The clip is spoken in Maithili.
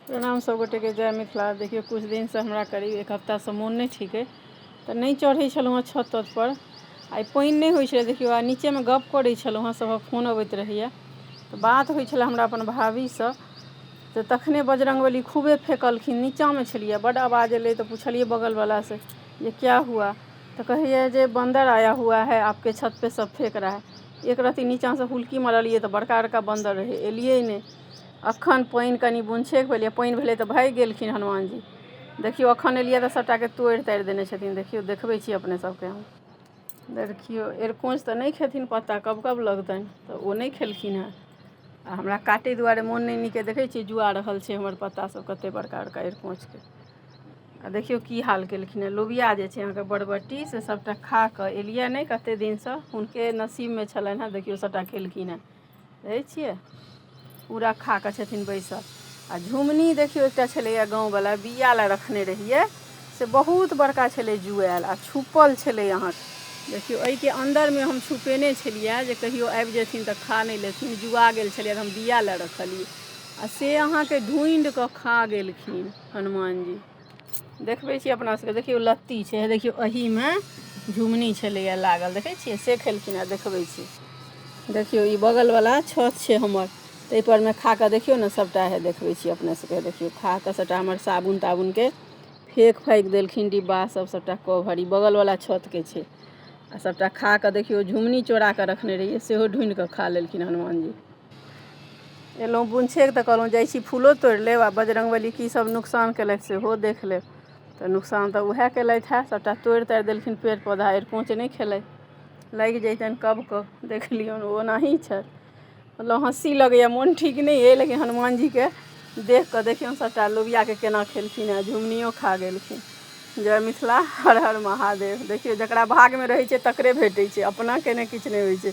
प्रणाम सब गोटे के जय मिथिला देखियौ कुछ दिन से हमरा करीब एक हफ्ता से मोन नै ठीके तऽ नै चढ़ै छलौ हँ छत तत पर आइ पानि नै होइ छलै देखियौ आ नीचे मे गप करै छलौ हँ सबहक फोन अबैत रहैया तऽ बात होइ छलै हमरा अपन भाभी सँ तऽ तखने बजरंगबली खूबे फेकलखिन नीचा मे छलियै बड आवाज एलै तऽ पुछलियै बगल बला से जे क्या हुआ तऽ कहैया जे बन्दर आया हुआ है आपके छत पे सब फेक रहा है एक रती नीचा से हुलकी मरलियै तऽ बड़का बड़का बन्दर रहै एलियै नै अखन पानि कनी बुनछेक भेलैया पानि भेलै तऽ भागि गेलखिन हनुमान जी देखियौ अखन एलिया तऽ सबटाके तोड़ि ताड़ि देने छथिन देखियौ देखबै छी अपने सबके हम देखियौ एरकोंच तऽ नहि खेथिन पत्ता कब कब लगतनि तऽ ओ नहि खेलखिन हँ आ हमरा काटै दुआरे मोन नहि नीक देखै छियै जुआ रहल छै हमर पत्ता सब कते बड़का बड़का एरकोंचके आ देखियौ की हाल केलखिन हँ लोबिया जे छै अहाँके बरबट्टी से सबटा खा कऽ एलिया नहि कते दिनसँ हुनके नसीबमे छलनि हँ देखियौ सबटा खेलखिन हँ रहै छियै ओ रखा कऽ छथिन बैसल आ झुमनी देखियौ एकटा छलैए गाँववला बिया लए रखने रहियै से बहुत बड़का छलै जुआयल आ छुपल छलै अहाँ देखियौ एहिके अन्दरमे हम छुपेने छलियै जे कहियो आबि जेथिन तऽ खा नहि लेथिन जुआ गेल छलियै हम बिया लए रखलियै आ से अहाँके ढूँढि कऽ खा गेलखिन हनुमान जी देखबै छी अपना सबके देखियौ लत्ती छै हे देखियौ एहिमे झुमनी छलैए लागल देखै छियै से खेलखिन हेँ देखबै छी देखियौ ई बगलवला छत छै हमर ताहिपरमे खा कऽ देखियौ ने सभटा हे देखबै छी अपने सभके देखियौ खा कऽ सभटा हमर साबुन ताबुनके फेक फाकि देलखिन डिब्बा सभ सभटा कवर ई बगलवला छतके छै आ सभटा खा कऽ देखियौ झुमनी चोरा कऽ रखने रहियै सेहो ढूनि कऽ खा लेलखिन हनुमानजी एलहुँ बुनछेक तऽ कहलहुँ जाइ छी फूलो तोड़ि लेब आ बजरङ्गबली की सभ नुकसान केलथि सेहो देख लेब तऽ नुकसान तऽ उएह केलथि हए सभटा तोड़ि ताड़ि देलखिन पेड़ पौधा अरिकोञ्च नहि खेलथि लागि जैतनि कबको देख लियौन ओ ओनाही छथि मतलब हँसी लगैए मोन ठीक नहि अइ लेकिन हनुमानजीके देख कऽ देखियौन सभटा लोबियाके केना खेलखिन हेँ झुमनियो खा गेलखिन जय मिथिला हर हर महादेव देखियौ जकरा भागमे रहै छै तकरे भेटै छै अपनाके नहि किछु नहि होइ छै